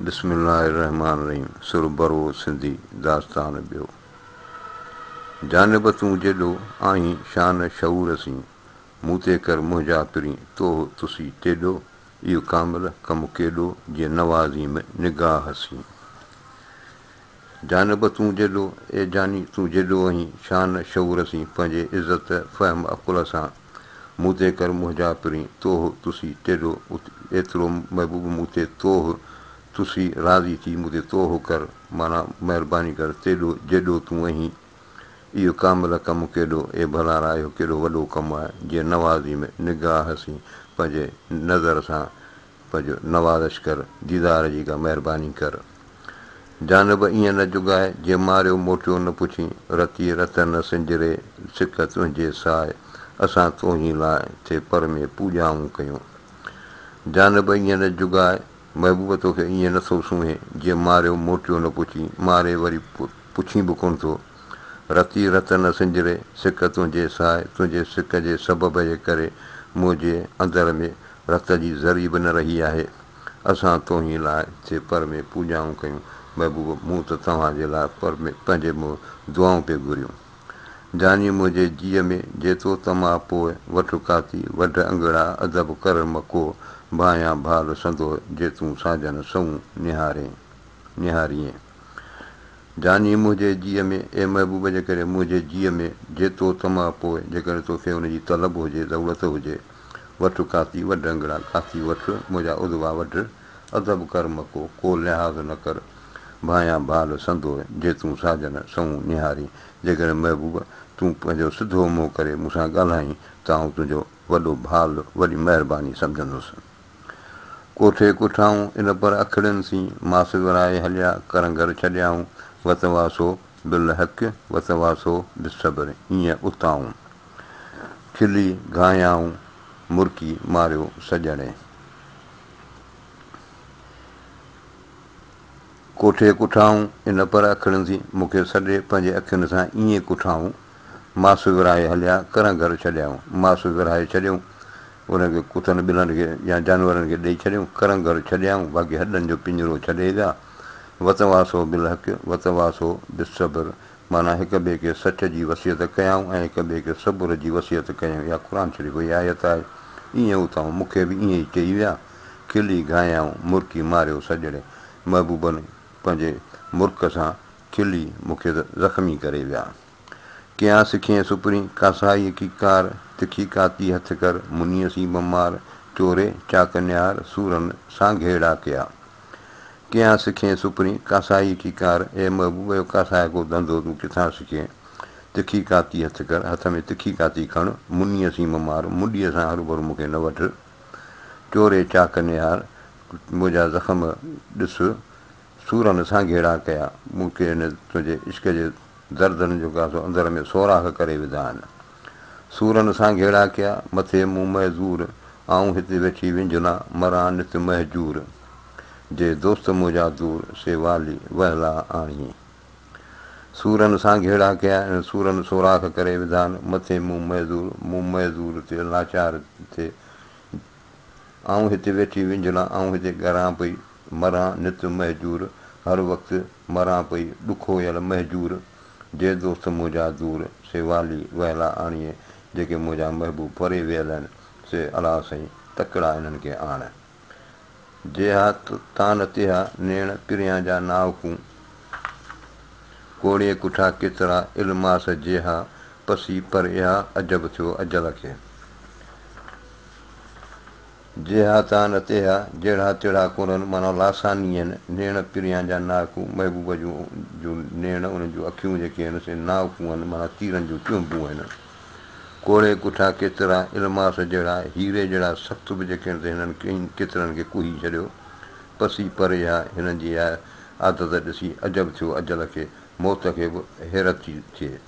بسم الله الرحمٰن الرحيم سر برو سنڌي داستان ٻيو جانب تون جيڏو آهين شان شعور سين مون تي ڪر منهنجا پرين توه تسي تيڏو اهو ڪامل ڪم ڪيڏو جي نوازين نگاهه سين جانب تون جيڏو، اي جاني تون جيڏو اهين شان شعور سين پنهنجي عزت فهم عقل سان مون تي ڪر منهنجا پرين توه تسي تيڏو ايترو محبوب مون تي توه تسي راضي ٿي مون تي توه ڪر معنيٰ مهرباني ڪر تيڏو جيڏو تون اهين اهو ڪامل ڪم ڪيڏو اي ڀلارا اهو ڪيڏو وڏو ڪم آهي جي نوازي ۾ نگاهه سين پنهنجي نظر سان پج نوالشڪر ديدار جي ڪا مهرباني ڪر. جان به ائين نه جڳاء، جي ماريو موٽيو نه پڇين، رتي رت نه سنجري، سڪ تنهنجي ساء، اسان توهين لاء، ٿي پر ۾ پوڄائون ڪيون. جان به ائين نه جڳاء، محبوب توکي ائين نه ٿو سونهين، جي ماريو موٽيو نه پڇين، ماري وري پڇين به ڪونه ٿو. رتي رت نه سنجري، سڪ تنهنجي ساء، تنهنجي سڪ جي سبب جي ڪري، منهنجي اندر ۾ رت جي ذري به نه رهي آهي. اسان توهين لاء هتي پر ۾ پوڄائون ڪيون. محبوب! مون ته توهان جي لاء پر ۾ پنهنجي منهن دعائون پئي گهريون. جاني منهنجي جيء ۾، جي تو طمع پوء، وٺ ڪاتي، وڍ انگڙا، ادب ڪر مڪوء، ڀانئيان ڀال سندوء، جي تون ساجن سنئون نهارين، نهاريئين. جاني منهنجي جيء ۾، اي محبوب! جيڪڏهن منهنجي جيء ۾، جي تو طمع پوء، جيڪڏهن توکي ان جي طلب هجي، ضرورت هجي، وٺ ڪاسي وڍ انگڙا، ڪاسي وٺ منهنجا عضوا وڍ، ادب ڪر مڪو، ڪو لحاظ نه ڪر، ڀانئيان ڀال سندوء، جي تون ساجن سنئون نهارين، جيڪڏهن محبوب تون پنهنجو سڌو منهن ڪري مون سان ڳالهائين ته آئون تنهنجو وڏو ڀال وڏي مهرباني سمجهندس. ڪوٺي ڪوٺائون ان پر اکڙين سين، ماس ورائي هليا ڪرنگهر ڇڏيائون، وتواسو بالحق وتواسو بالصبر هينئن اتائون. کلي گهايائون مرڪي ماريو سڄڻي. ڪوٺي ڪٺائون ان پر اکڙين ٿي مون کي سڏي پنهنجي اکين سان ائين ڪٺائون ماس ورهائي هليا ڪران گهر ڇڏيائون ماس ورهائي ڇڏيون ان کي ڪتن ٻلن کي يا جانورن کي ڏئي ڇڏيون ڪران گهر ڇڏيائون باقي هڏن جو پڃرو ڇڏي ويا وتواسو بالحق وتواسو بالصبر معنيٰ هڪ ٻئي کي سچ جي وصيت ڪيائون ۽ هڪ ٻئي کي صبر جي وصيت ڪيائون اها قرآن شريف جي آيت آهي ايئن اٿائون مون کي به ايئن ئي چئي ويا کلي گهايائون مرڪي ماريو سڄڻي محبوبن پنهنجي مرڪ سان کلي مون کي زخمي ڪري ويا ڪيان سکين سپرين ڪاسائيء ڪي ڪار تکي ڪاتي هٿ ڪر منيء سين بمار چوري چاڪ نهار سورن سان گهيڙا ڪيا. ڪيان سکين سپرين ڪاسائي ڪي ڪار، اي محبوب اهو ڪاسائي ڪو ڌنڌو تون ڪٿان سکين، تکي ڪاتي هٿ ڪر، هٿ ۾ تکي ڪاتي کڻ، منيء سين مه مار، منڊيء سان هروڀرو مون کي نه وڍ، چوري چاڪ نهار، منهنجا زخم ڏس، سورن سان گهيڙا ڪيا، مون کي هن تنهنجي عشق جي دردن جو ڪاسو اندر ۾ سوراخ ڪري وڌا آهن. سورن سان گهيڙا ڪيا، مٿي مون معذور، آئون هتي ويٺي وينجهنا، مران نت مهجور، جي دوست منهنجا دور، سي والي وهلا آڻي. سورن سان گهيڙا ڪيا، سورن سوراخ ڪري وڌان، مٿي مون معذور، مون معذور تي لاچار ٿي، آئون هتي ويٺي وينجهلان، آئون هتي ڳران پئي مران نت مهجور، هر وقت مران پئي ڏکويل مهجور، جي دوست منهنجا دور، سي والي وهلا آڻيئي، جيڪي منهنجا محبوب پري ويل آهن، سي الاهه سائين تڪڙا انهن کي آڻ. جيها تان تيها نيڻ پريان جا ناوڪون، ڪوڙيئي ڪٺا ڪيترا الماس جيها پسي پر اها عجب ٿيو اجل کي. جيها تان نه تيها، جهڙا تيڙها ڪورن، معنيٰ لاثاني هن، نيڻ پريان جا ناهڪون، محبوب جون جون نيڻ، ان جون اکيون جيڪي هن، سي ناهڪون هن، معنيٰ تيرن جون چونبون هن. ڪوڙهي ڪٺا ڪيترا، الماس جهڙا، هيري جهڙا سخت به جيڪي تي هنن ڪئين ڪيترن کي ڪوهي ڇڏيو. پسي پريها، هنن جي اها عادت ڏسي عجب ٿيو اجل کي، موت کي به حيرت ٿي ٿئي.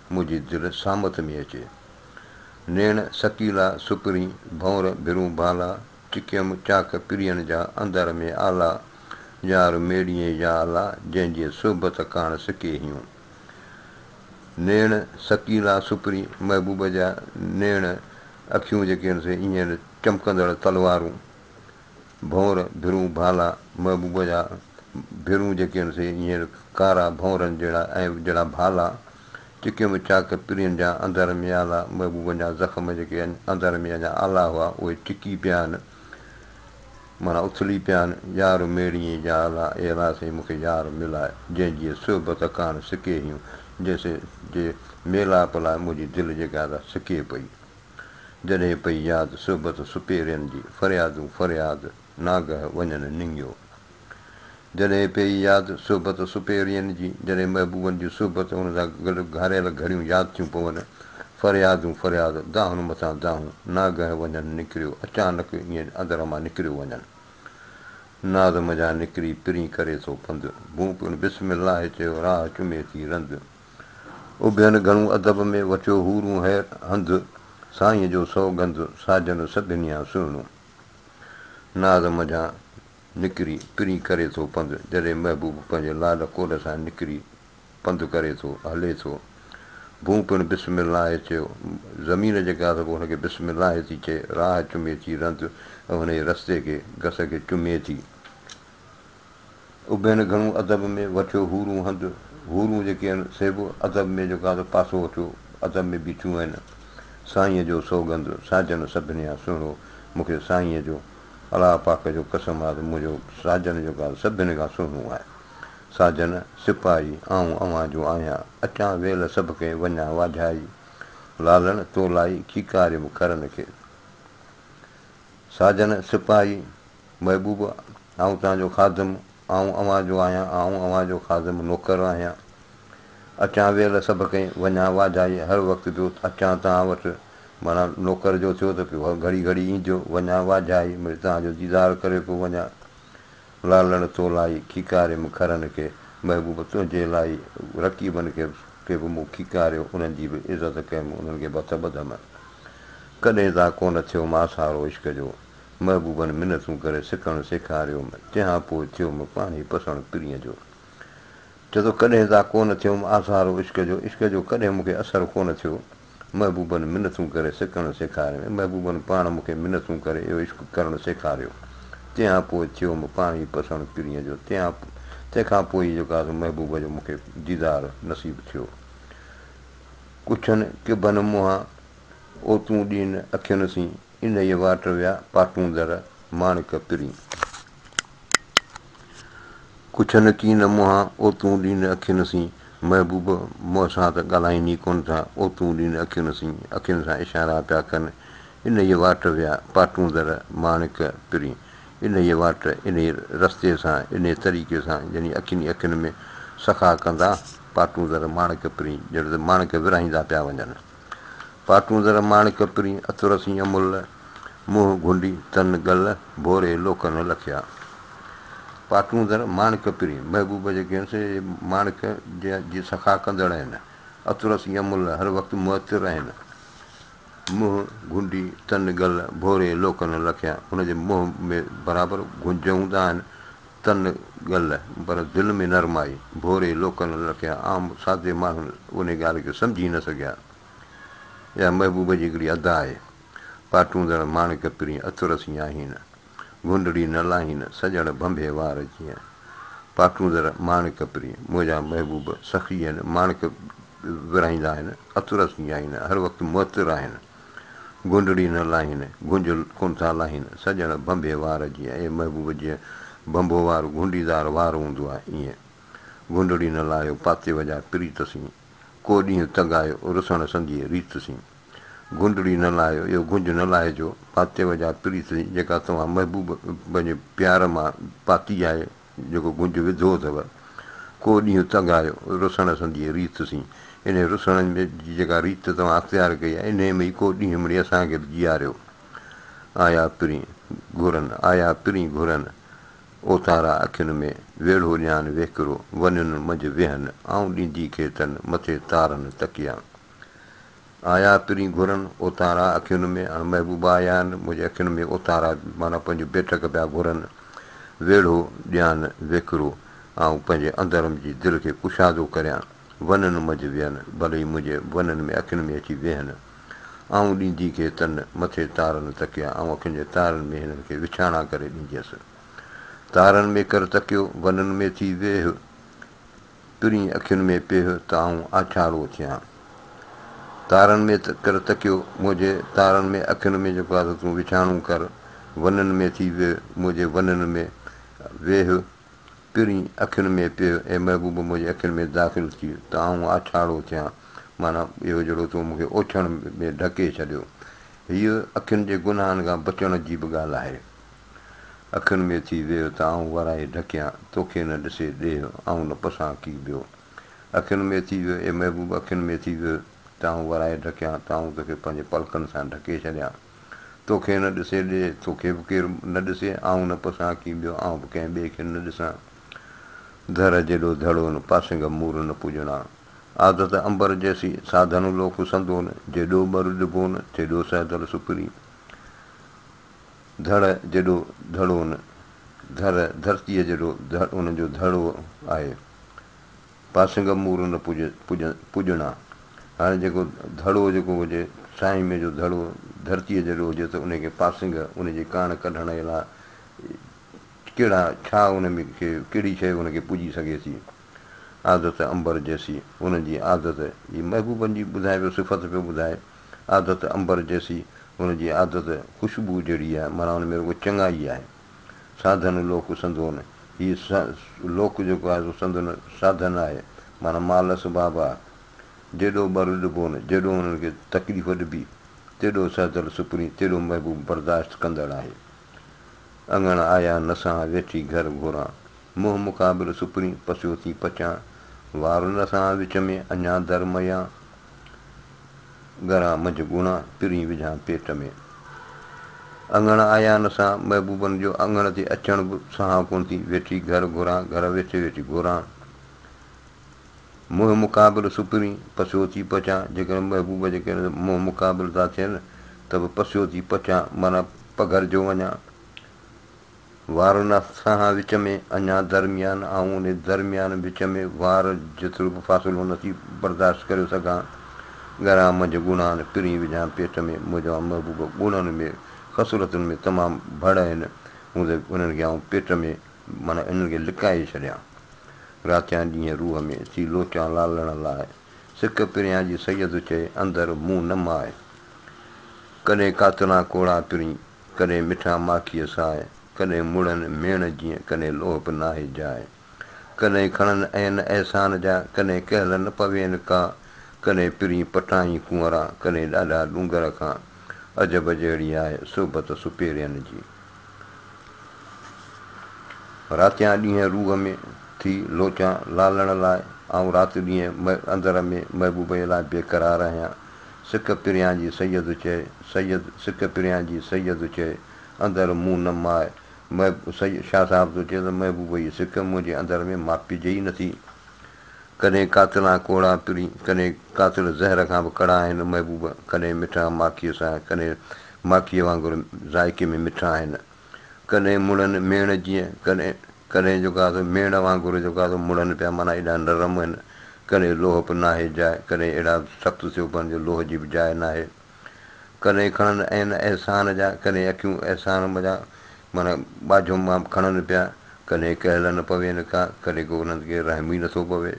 منهنجي دل سامت ۾ اچي. نيڻ سڪيلا سپرين ڀونر ڀرون ڀالا، چڪيم چاڪ پرين جا اندر ۾ آلا، يار ميڙيئي يا الا، جنهن جي صحبت ڪاڻ سڪي هيون. نيڻ سڪيلا سپرين محبوب جا نيڻ اکيون جيڪي هن سين ايئن چمڪندڙ تلوارون. ڀونر، ڀرون، ڀالا، محبوب جا ڀرون جيڪي هن سي هينئر ڪارا ڀونرن جهڙا ۽ جهڙا ڀالا، چڪيون به چاڪ پرين جا اندر ۾ آلا، محبوبن جا زخم جيڪي اندر ۾ اڃا آلا هئا، اهي چڪي پيا آهن، معنيٰ اٿلي پيا آهن، يار ميڙيئي جا آلا، اي الا سائين مون کي يار ملاء، جنهن جيء صحبت ڪاڻ سڪي هيون، جنهن سي جي ميلاپ لاء منهنجي دل جيڪا سا سڪي پئي. جڏهن پئي ياد صحبت سپهرين جي، فريادون فرياد ناگهه وڃن ننگيو. جڏهن پئي ياد صحبت سپهرين جي، جڏهن محبوبن جي صحبت ان سان گڏ گهاريل گهڙيون ياد ٿيون پون، فريادون فرياد دانهن مٿان دانهون ناگهه وڃن نڪريو اچانڪ ائين اندر مان نڪريو وڃن. ناز منجهان نڪري پرين ڪري ٿو پنڌ، ڀونڪ ان بسم الله چيو راهه چمي ٿي رند. اڀين گهڻو ادب ۾ وٺيو حورون حير هنڌ، سائينء جو سوگنڌ ساجن سڀنيان سهڻو. ناز منجهان نڪري پرين ڪري ٿو پنڌ، جڏهن محبوب پنهنجي لال ڪول سان نڪري پنڌ ڪري ٿو، هلي ٿو. ڀونء پڻ بسم الله چيو، زمين جيڪا آهي سا پوء هن کي بسم الله ٿي چئي، راهه چمي ٿي رند ۽ هن جي رستي کي، گس کي چمي ٿي. ابين گهڻو ادب ۾ وٺيو حورون هنڌ حورون جيڪي آهن سي به ادب ۾ جيڪو آهن سو پاسو وٺيو ادب ۾ بيٺيون آهن سائينء جو سوڳنڌ ساجن سڀنيان سهڻو مون کي سائينء جو الله پاڪ جو قسم آهي ته منهنجو ساجن جيڪو آهي سڀني کان سهڻو آهي ساجن سپاهي آئون اوهان جو آهيان اچان ويل سڀ کي وڃان واجهائي لالڻ تو لائي کيڪاريم کرن کي ساجن سپاهي محبوب، آئون توهان جو خادم، آئون اوهان جو آهيان، آئون اوهان جو خادم، نوڪر، آهيان. اچان ويل سڀ ڪئين، وڃان واجهائي، هر وقت جو اچان توهان وٽ، معنيٰ نوڪر جو ٿيو ته پيو گهڙي گهڙي اينديو، وڃان واجهائي، مڙئي توهان جو ديدار ڪري پيو وڃان. لالڻ تو لائي، کيڪاريم کرن کي، محبوب تنهنجي لائي، رقيبن کي کي به مون کيڪاريو، انهن جي به عزت ڪيم، انهن کي به هٿ ٻڌم. ڪڏهن تان ڪونه ٿيومانس هارو عشق جو، محبوبن منتون ڪري سڪڻ سيکاريوم، تنهان پوء ٿيوم پاڻهي پسڻ پرينء جو. چئه ٿو ڪڏهن تان ڪونه ٿيوم آسارو عشق جو، عشق جو ڪڏهن مون کي اثر ڪونه ٿيو، محبوبن منتون ڪري سڪڻ سيکاريوم، محبوبن پاڻ مون کي منتون ڪري اهو عشق ڪرڻ سيکاريو، تنهان پوء ٿيوم پاڻهي پسڻ پرينء جو، تنهان تنهن کان پوء ئي جيڪو آهي سو محبوب جو مون کي ديدار نصيب ٿيو. ڪڇن ڪڀن منهان، او تون ڏين اکين سين، انهيء واٽ ويا پاٽوندر ماڻڪ پرين. ڪڇن ڪين منهان اوتون ڏين اکين سين محبوب مون سان ته ڳالهائين ئي ڪونه ٿا اوتون ڏين اکين سين اکين سان اشارا پيا ڪن انهيء واٽ ويا پاٽوندر ماڻڪ پرين انهيء واٽ انهيء رستي سان انهيء طريقي سان يعني اکين ئي اکين ۾ سخا ڪندا پاٽوندر ماڻڪ پرين ڄڻ ته ماڻڪ ورهائيندا پيا وڃن. پاتون زر ماڻڪ پرين، عطر سين امل، منهن گهنڊي تن گل، ڀوري لوڪ نه لکيا. پاتون زر ماڻڪ پرين، محبوب جيڪي آهن سي ماڻڪ جي سخا ڪندڙ آهن، عطر سين امل، هر وقت معطر آهن، منهن گهنڊي تن گل، ڀوري لوڪ نه لکيا، هن جي منهن ۾ برابر گهنج هوندا آهن، تن گل پر دل ۾ نرمائي. ڀوري لوڪن لکيا عام سادي ماڻهن انهي ڳالهه کي سمجهي نه سگهيا. اها محبوب جي هڪڙي ادا آهي. پاٽوندڙ ماڻڪ پرين عطر سين آهين. گهنڊڙي نه لاهين سڄڻ ڀنڀي وار جيئن. پاٽوندڙ ماڻڪ پرين منهنجا محبوب سخي آهن ماڻڪ ورهائيندا آهن عطر سين آهين هر وقت معطر آهن. گهنڊڙي نه لاهين، گهنجل ڪونه ٿا لاهين، سڄڻ ڀنڀي وار جيئن اي محبوب جيئن ڀنڀو وار گهنڊي دار وار هوندو آهي ايئن گهنڊڙي نه لاهيو پاتيو جا پريت سين ڪو ڏينهن تڳايو رسڻ سنديء ريت سين گهنڊڙي نه لاهيو اهو گهنج نه لاهجو پاتيو جا پريت سين جيڪا توهان محبوب پنهنجي پيار مان پاتي آهي جيڪو گنج وڌو اٿو. ڪو ڏينهن تنگ آيو رسڻ سنديء ريت سين. انهيء رسڻ جي جيڪا ريت توهان اختيار ڪئي آهي، انهيء ۾ ئي ڪو ڏينهن مڙي اسان کي به جياريو. آيا پرين گهرن، آيا پرين گهرن، اوتارا اکين ۾ ويڙهو ڏيان ويڪرو، ونين منجهه ويهن، آئون ڏيندي کيتن، مٿي تارن تڪيا. آيا ترين گهرن اوتارا اکين ۾، اڻ محبوبا آيا آهن منهنجي اکين ۾، اوتارا معنيٰ پنهنجون بيٺڪ پيا گهرن، ويڙهو ڏيان ويڪرو، آئون پنهنجي اندرم جي دل کي ڪشادو ڪريان، ونن منجهه ويهن، ڀلي ئي منهنجي ونن ۾ اکين ۾ اچي ويهن، آئون ڏيندي کي تن مٿي تارن تڪيا، آئون اکين جي تارن ۾ هنن کي وڇاڻا ڪري ڏينديس، تارن ۾ ڪر تڪيو، ونن ۾ ٿي ويهه. ترين اکين ۾ پيه ته آئون آڇاڙو ٿيان تارن ۾ ته ڪر تڪيو منهنجي تارن ۾ اکين ۾ جيڪو آ سو تون وڇاڻو ڪر ونن ۾ ٿي ويهه منهنجي ونن ۾ ويهه ترين اکين ۾ پيه اي محبوب منهنجي اکين ۾ داخل ٿي ته آئون آڇاڙو ٿيان معنيٰ اهو جهڙو تو مون کي اوڇڻ ۾ ڍڪي ڇڏيو هيء اکين جي گناهن کان بچڻ جي به ڳالهه آهي. اکين ۾ ٿي ويهه ته آئون ورائي ڍڪيان، توکي نه ڏسي ڏيهه، آئون نه پسان ڪي ٻيو. اکين ۾ ٿي ويهه، اي محبوب اکين ۾ ٿي ويهه، ته آئون ورائي ڍڪيان، ته آئون توکي پنهنجي پلڪن سان ڍڪي ڇڏيان. توکي نه ڏسي ڏيهه، توکي به ڪير نه ڏسي، آئون نه پسان ڪي ٻيو، آئون به ڪنهن ٻئي کي نه ڏسان. ڌر جيڏو ڌڙون، پاسنگ مور نه پڄڻا. عادت عنبر جيسي، ساڌن لوڪ سندون، جيڏو ٻر ڏبون، تيڏو سهدل سپري. ڌڙ جيڏو ڌڙو ان ڌر، ڌرتيء جيڏو ڌڙ ان جو ڌڙو آهي. پاسنگ مور نه پڄ، پڄڻا. هاڻي جيڪو ڌڙو جيڪو هجي، سائين مين جو ڌڙو ڌرتيء جيڏو هجي ته ان کي پاسنگ ان جي ڪاڻ ڪڍڻ الا ڪهڙا ڇا ان ۾ کي ڪهڙي شيء ان کي پڄي سگهي ٿي. عادت عنبر جيسي، ان جي عادت، هي محبوبن جي ٻڌائي پيو صفت پيو ٻڌائي. عادت عنبر جيسي، هن جي عادت خوشبوء جهڙي آهي، معنيٰ هن ۾ رڳو چڱائي آهي. ساڌن لوڪ سندون، هي لوڪ جيڪو آهي سو سندن ساڌن آهي، معنيٰ مال اسباب آهي. جيڏو ٻر ڏبون، جيڏو انهن کي تڪليف ڏبي، تيڏو سهدل سپرين، تيڏو محبوب برداشت ڪندڙ آهي. اڱڻ آيا نه سهان، ويٺي گهر گهران. منهن مقابل سپرين، پسيو ٿي پچان. وار نه سهان وچ ۾، اڃان در مئيان. ڳران منجھ ڳوڻا ترين وجهان پيٽ ۾. اڱڻ آيا نه سان محبوبن جو اڱڻ تي اچڻ به سهان ڪونه ٿي ويٺي گهر گهران گهر ويٺي ويٺي گهران منهن مقابل سپرين پسيو ٿي پچان جيڪڏهن محبوب جي ڪري منهن مقابل ٿا ٿين ته به پسيو ٿي پچان معنيٰ پگهرجو وڃان وارن ۽ سانحه وچ ۾ اڃا درميان آئون ان درميان وچ ۾ وار جيترو به فاصلو نٿي برداشت ڪريو سگهان. ڳران منجهه ڳڻان پرين وجهان پيٽ ۾ موجوان محبوب ڳڻن ۾ خصلتن ۾ تمام ڀڙ آهن هون ته انهن کي آئون پيٽ ۾ معنيٰ انهن کي لڪائي ڇڏيان راتيان ڏينهن روح ۾ ٿي لوچان لالڙن لاء سڪ پريان جي سيد چئي اندر مون نه ماء ڪڏهن قاتلان ڪوڙا پرين ڪڏهن مٺا ماکيء ساء، ڪڏهن مڙهن ميڻ جيئن، ڪڏهن لوهه به ناهي جاء. ڪڏهن کڻن عين احسان جا، ڪڏهن ڪهل نه پوين ڪا. ڪڏهن پرين پٽائين ڪنورا، ڪڏهن ڏاڍا ڏونگر کان. عجب جهڙي آهي صحبت سپهرين جي. راتيان ڏينهن روح ۾ ٿي لوچان لالڻ لاء، آئون رات ڏينهن اندر ۾ محبوبي لاء بي قرار آهيان. سڪ پريان جي سيد چئي، سيد سڪ پريان جي سيد چئي، اندر مون نه ماء، محب سيد شاهه صاحب ٿو چئي ته محبوب جي سڪ منهنجي اندر ۾ ماپجي ئي نٿي. ڪڏهن قاتلان ڪوڙا پرين، ڪڏهن قاتل زهر کان به ڪڙا آهن محبوب، ڪڏهن مٺا ماکيء سان، ڪڏهن ماکيء وانگر ذائقي ۾ مٺا آهن. ڪڏهن مڙن ميڻ جيئن، ڪڏهن ڪڏهن جيڪا سو ميڙ وانگر جيڪا سو مڙن پيا معنيٰ ايڏا نرم هن ڪڏهن لوهه به ناهي جاء ڪڏهن اهڙا سخت ٿيو پون جو لوهه جي به جاء ناهي ڪڏهن کڻن عين احسان جا ڪڏهن اکيون احسان م جا معنيٰ ٻاجهو مان کڻن پيا ڪڏهن ڪهلن پوين ڪا ڪڏهن ڪو انهن کي رحم ئي نٿو پوي.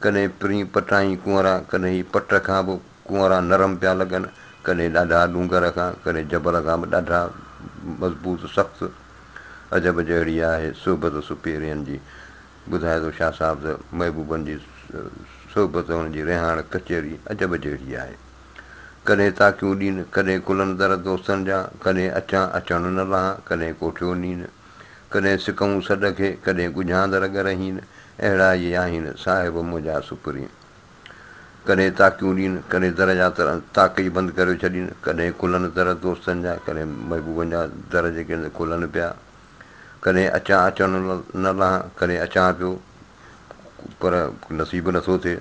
ڪڏهن پرين پٽائين ڪنئرا، ڪڏهن هي پٽ کان به ڪنئرا نرم پيا لڳن، ڪڏهن ڏاڍا ڏونگر کان، ڪڏهن جبل کان به ڏاڍا مضبوط سخت. عجب جهڙي آهي صحبت سپهرين جي. ٻڌائي ٿو شاهه صاحب ته محبوبن جي صحبت هن جي رهاڻ ڪچهري عجب جهڙي آهي. ڪڏهن تاڪيون ڏين، ڪڏهن کلن در دوستن جا، ڪڏهن اچان اچڻ نه لهان، ڪڏهن ڪوٺيو نين. ڪڏهن سڪئون سڏ کي، ڪڏهن ڳجهاند رڳ رهين، اهڙا ئي آهين صاحب منهنجا سپرين. ڪڏهن تاڪيون ڏين، ڪڏهن در جا تر تاڪ ئي بند ڪريو ڇڏين، ڪڏهن کلن در دوستن جا، ڪڏهن محبوبن جا در جيڪي کلن پيا. ڪڏهن اچان اچڻ نه لهان، ڪڏهن اچان پيو پر نصيب نه ٿو ٿئي.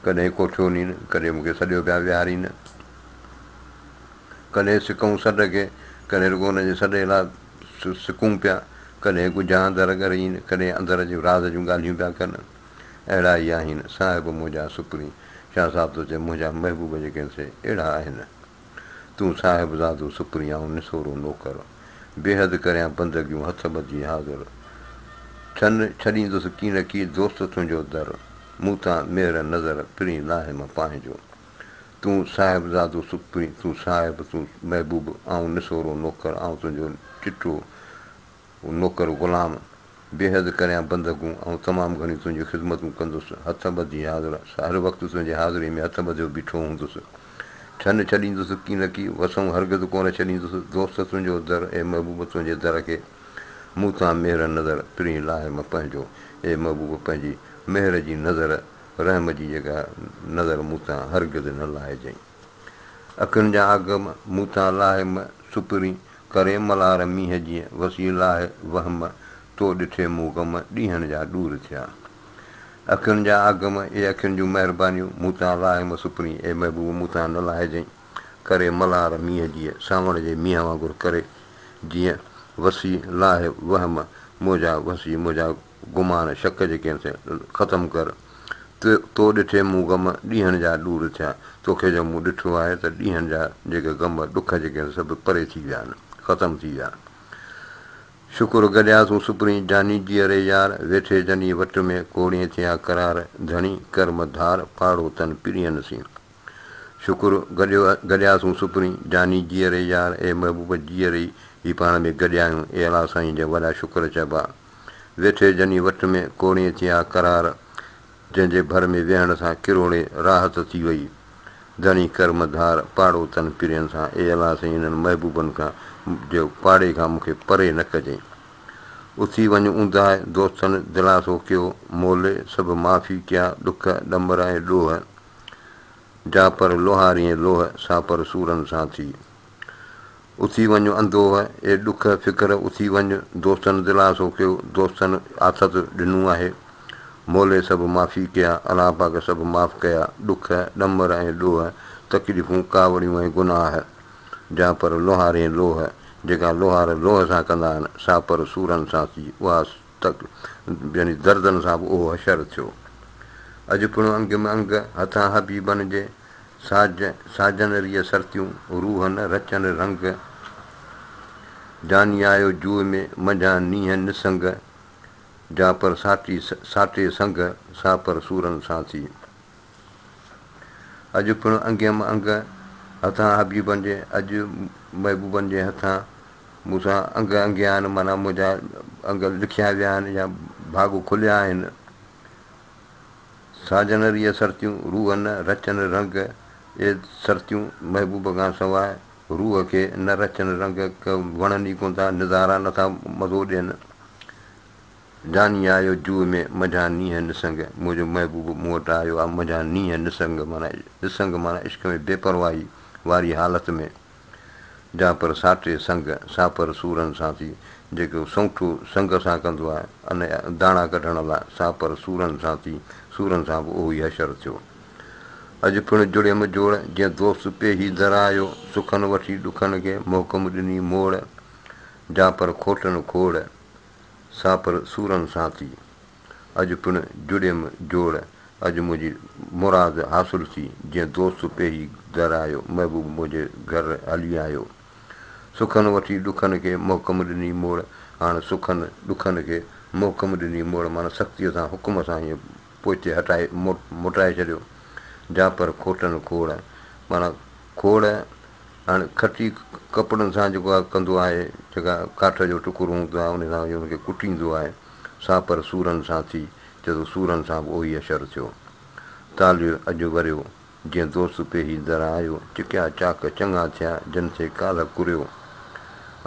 ڪڏهن ڪوٺيو نين، ڪڏهن مون کي سڏيو پيا ويهارين. ڪڏهن سڪون سڏ کي، ڪڏهن رڳو هن جي سڏ لاء سڪون پيا. ڪڏهن ڳجهان در ڳرين، ڪڏهن اندر جون راز جون ڳالهيون پيا ڪن. اهڙا ئي آهن صاحب منهنجا سپرين. شاهه صاحب ٿو چئي منهنجا محبوب جيڪي آهن سي اهڙا آهن. تون صاحبزادو سپريائون نسورو نوڪر، بيحد ڪريان بندگيون هٿ ٻڌي حاضر، ڇن ڇڏيندس ڪي نه ڪي دوست تنهنجو در، مون تان مهر نظر پرين ناهيم پانهنجو. تون صاحبزادو سپرين تون صاحب تون محبوب آئون نسورو نوڪر آئون تنهنجو چٽو هو نوڪر غلام، بيحد ڪريان بندگون، آئون تمام گهڻيون تنهنجون خدمتون ڪندس، هٿ ٻڌي حاضر، هر وقت تنهنجي حاضريء ۾ هٿ ٻڌيو بيٺو هوندس. ڇنه ڇڏيندس ڪي نه ڪي، وسون هرگز ڪونه ڇڏيندس، دوست تنهنجو در، اي محبوب تنهنجي در کي، مون تان مهر نظر، پرين لاهيم پنهنجو، اي محبوب پنهنجي مهر جي نظر، رحم جي جيڪا نظر مون تان هرگز نه لاهجئين. اکين جا اگهه مون تان لاهي م سپرين ڪري ملار مينهن جيئن وسي لاهي وهه م تو ڏٺي مون غم ڏينهن جا ڏور ٿيا اکين جا اگهه م اي اکين جون مهربانيون مون تان لاهي م سپرين اي محبوب مون تان نه لاهجئين ڪري ملار مينهن جيئن سانوڻ جي مينهن وانگر ڪري جيئن وسي لاهي وهه م منهنجا وسي منهنجا گمان شڪ جي ڪين ٿي ختم ڪر تو تو ڏٺي مون غم ڏينهن جا ڏور ٿيا توکي جو مون ڏٺو آهي ته ڏينهن جا جيڪي غم ڏک جي ڪين سڀ پري ٿي ويا آهن ختم ٿي ويا شڪر گڏيا تون سپرين جاني جي اري يار ويٺي جني وٽ ۾ ڪوڙين ٿيا قرار ڌڻي ڪرم ڌار پاڙو تن پرين سين شڪر گڏيو گڏيا تون سپرين جاني جي اري يار اي محبوب جي اري هي پاڻ ۾ گڏيا آهيون اي الله سائين جا وڏا شڪر چئبا ويٺي جني وٽ ۾ ڪوڙين ٿيا قرار، جنهن جي ڀر ۾ ويهڻ سان ڪروڙي راحت ٿي وئي. ڌڻي ڪرم ڌار پاڙوتن پرين سان اي الله سائين انهن محبوبن کان جي پاڙي کان مونکي پري نه ڪجئين. اٿي وڃ اونداهه دوستن دلاسو ڪيو، مولي سڀ معافي ڪيا ڏک ڏمر ۽ ڏوهه جا پر لوهاريين لوهه سا پر سورن سان ٿي. اٿي وڃ اندوهه اي ڏک فڪر اٿي وڃ دوستن دلاسو ڪيو دوستن آٿت ڏنو آهي مولي سڀ معافي ڪيا الله پاڪ سڀ معاف ڪيا ڏک ڏمر ۽ ڏوهه تڪليفون ڪاوڙيون ۽ گناهه جا پر لوهارين لوهه جيڪا لوهار لوهه سان ڪندا آهن سا پر سورن سان ٿي اها تڪ يعني دردن سان به اهو حشر ٿيو اڄ پڻ انگ م انگ هٿان حبيبن جي ساج ساجن ريء سرتيون، روحن رچن رنگ. جاني آيو جوء ۾، منجهان نينهن نسنگ. جا پر ساٽي ساٽي سنگ، سا پر سورن سان ٿي. اڄ پڻ انگيم انگ، هٿان حبيبن جي، اڄ محبوبن جي هٿان مون سان انگ انگيا آهن، معنيٰ منهنجا انگ لکيا ويا آهن يا ڀاڳ کليا آهن. ساجن ريء سرتيون، روح نه رچن رنگ، اي سرتيون! محبوب کان سواء روح کي نه رچن رنگ، ڪه وڻن ئي ڪونه ٿا، نظارا نه ٿا مزو ڏين. جاني آيو جوء ۾ منجهان نينهن نسنگ، منهنجو محبوب مون وٽ آيو آ منجهان نينهن نسنگ معنيٰ نسنگ معنيٰ عشق ۾ بي پرواهي واري حالت ۾. جا پر ساٽي سنگ ساپر سورن سان ٿي، جيڪو سنگٺو سنگ سان ڪندو آهي، ان جا داڻا ڪڍڻ لاء ساپر سورن سان ٿي، سورن سان به اهو ئي حشر ٿيو. اڄ پڻ جڙيم جوڙ، جئن دوست پيهي در آيو، سکن وٺي ڏکن کي، محڪم ڏني موڙ، جا پر کوٽن کوڙ، ساپر سورن سان ٿي. اڄ پڻ جڙيم جوڙ، اڄ منهنجي مراد حاصل ٿي، جيئن دوست پيهي در آيو، محبوب منهنجي گهر هلي آيو. سکن وٺي ڏکن کي محڪم ڏني موڙ، هاڻ سکن ڏکن کي محڪم ڏني موڙ معنيٰ سختيء سان حڪم سان هيئن پوئتي هٽائي موٽائي ڇڏيو، جاپر کوٽن کوڙ معنيٰ کوڙ هاڻ کٽي ڪپڙن سان جيڪو ڪندو آهي، جيڪا ڪاٺ جو ٽڪرو هوندو آهي، انهي سان هن کي ڪٽيندو آهي. سا پر سورن سان ٿي چئه ٿو سورن سان به اهوئي حشر ٿيو. تاليو اڄ وريو، جئن دوست پيهي دران آيو، چڪيا چاڪ چڱا ٿيا، جن ٿئي ڪالهه ڪريو،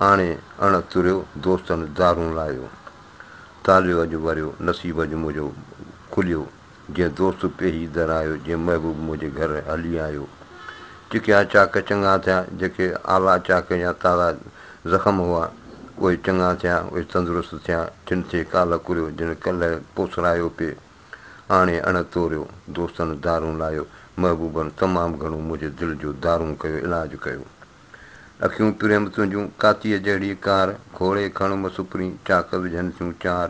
آڻي اڻ تريو، دوستن دارون لايو. تاليو اڄ وريو، نصيب اڄ منهنجو کليو. جنهن دوست پيهي در آيو، جنهن محبوب منهنجي گهر هلي آيو. چکيا چاڪ چڱا ٿيا، جيڪي آلا چاڪ يا تارا زخم هئا، اهي چڱا ٿيا، اهي تندرست ٿيا، ٺن تي ڪالهه ڪريو، جن ڪلهه پوسرايو پي آڻي اڻ توريو، دوستن دارون لايو، محبوبن تمام گهڻو منهنجي دل جو دارون ڪيو، علاج ڪيو. اکيون پريم تنهنجون، ڪاتيء جهڙي ڪار، کوڙي کڻ مس پرين، چاڪ وجهن ٿيون چار.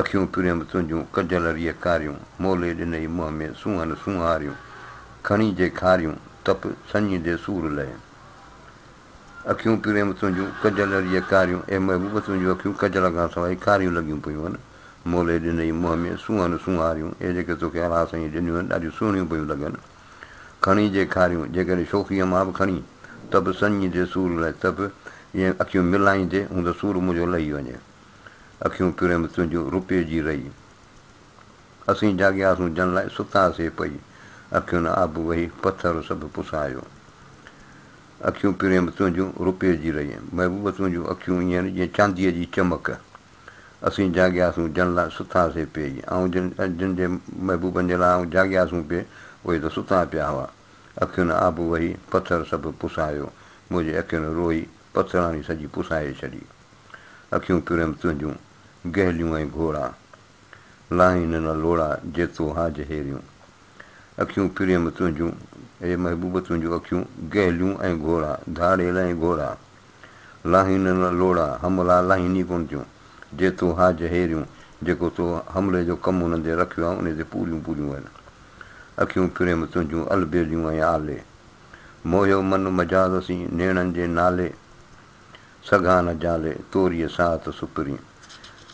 اکيون پريم تنهنجون ڪجل ريء ڪاريون، مولي ڏنئي منهن ۾ سونهن سونهاريون، کڻي جي کاريون، تپ سڃيندي سور لئي. اکيون پريم تنهنجون ڪجل ريء ڪاريون، اي محبوب تنهنجون اکيون ڪجل کان سواء ڪاريون لڳيون پيون هن، مولي ڏنئي منهن ۾ سونهن سونهاريون، اي جيڪي توکي الاهه سائينء ڏنيون هن ڏاڍيون سهڻيون پيون لڳن، کڻي جي کاريون، جيڪڏهن شوخيء مان به کڻي، تپ سڃيندي سور لئي، تپ ائين اکيون ملائيندي هوند سور منهنجو لهي وڃي. اکيون ڪريم تنهنجون روپيء جي رئي. اسين جاڳياسون جن لاء ستا سي پئي. اکين آب وهي پٿر سڀ پسايو. اکيون ڪريم تنهنجون روپيء جي رئي. محبوب تنهنجون اکيون ائين آهن جيئن چانديء جي چمڪ. اسين جاڳياسون جن لاء ستا سي پئي. آئون جن جن جي محبوبن جي لاء آئون جاڳياسون پئي اهي ته ستا پيا هئا. اکين آب وهي پٿر سڀ پسايو. منهنجي اکين روئي پٿراڻي سڄي پسائي ڇڏي. اکيون تريم تنهنجون گهليون ۽ گهوڙا، لاهين نه لوڙا جيتو هاج هيريون. اکيون تريم تنهنجون، اي محبوب تنهنجون اکيون گهليون ۽ گهوڙا، ڌاڙيل ۽ گهوڙا، لاهين نه لوڙا، حملا لاهين ئي ڪونه ٿيون، جيتو هاج هيريون، جيڪو تو حملي جو ڪم انهن تي رکيو آهي انهي تي پوريون پوريون وين. اکيون تريم تنهنجون البيليون ۽ آلي، موهيو من مجاز سين نيڻن جي نالي، سگهان نه جالي، توريء ساعت سپرين.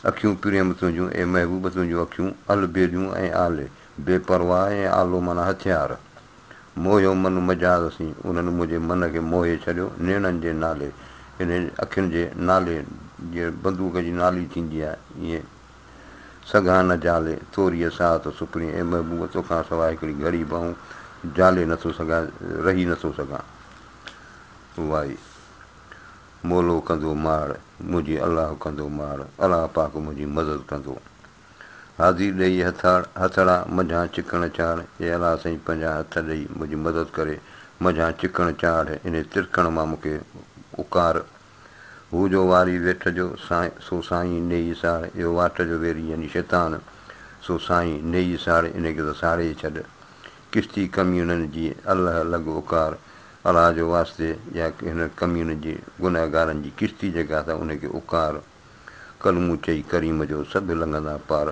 اکيون پريم تنهنجون، اي محبوب تنهنجون اکيون، البيليون ۽ آلي، بي پرواهه ۽ آلو معنيٰ هٿيار. موهيو من مجاز سين، انهن منهنجي من کي موهي ڇڏيو، نيڻن جي نالي، يعني اکين جي نالي، جيئن بندوق جي نالي ٿيندي آهي، ائين. سگهان نه جالي، توريء ساعت سپرين، اي محبوب تو کان سواء هڪڙي گهڙي به آئون جالي نٿو سگهان، رهي نٿو سگهان. وائي. مولو ڪندو ماڙ، منهنجي الله ڪندو ماڙ، الله پاڪ منهنجي مدد ڪندو. حاضي ڏيئي هٿاڙ، هٿڙا، منجهان چڪڻ چاڙ، اي الله سائين پنهنجا هٿ ڏيئي منهنجي مدد ڪري، منجهان چڪڻ چاڙ، انهي ترڪڻ مان مون کي اڪار. هو جو واري ويٺ جو، سو سائين نيئي ساڙ، اهو واٽ جو ويري يعني شيطان، سو سائين نيئي ساڙ، انهي کي ته ساڙي ڇڏ. ڪشتي ڪميڻن جي، الله لڳ اڪار. الله جو واسطي يا هن ڪمين جي گنهگارن جي ڪشتي جيڪا اٿا ان کي اڪار ڪلمون چئي ڪريم جو سڀ لنگهندا پار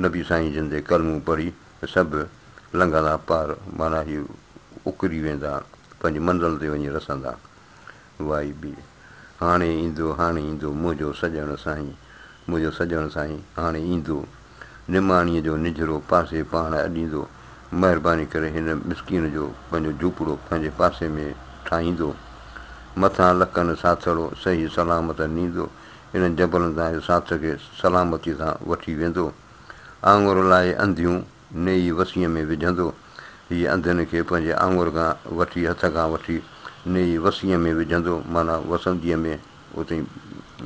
نبي سائين زندي ڪلمون پڙهي ته سڀ لنگهندا پار معنيٰ هي اڪري ويندا پنهنجي منزل تي وڃي رسندا وائي بي هاڻي ايندو هاڻي ايندو منهنجو سڄڻ سائين منهنجو سڄڻ سائين هاڻي ايندو. نماڻيء جو نجهرو پاسي پاڻ اڏيندو، مهرباني ڪري هن مسڪين جو پنهنجو جهوپڙو پنهنجي پاسي ۾ ٺاهيندو. مٿان لڪن ساٿڙو صحيح سلامت نيندو، انهن جبلن تان اهي ساٿ کي سلامتيء سان وٺي ويندو. آڱر لائي انڌيون نيئي وسيء ۾ وجهندو. هيء انڌين کي پنهنجي آڱر کان وٺي هٿ کان وٺي نيئي وسيء ۾ وجهندو معنيٰ وسنديء ۾ اتي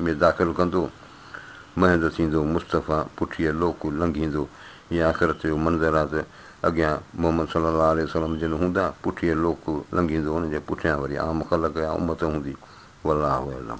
۾ داخل ڪندو. مهندو ٿيندو، مصطفيٰ پٺيء لوڪ لنگهيندو. هي آخرت جو منظر آ ته اڳيان محمد صلي الله عليه وسلم جن هوندا، پٺيء لوڪ لنگهيندو، انهن جي پٺيان وري عام خلق يا امت هوندي. والله اعلم.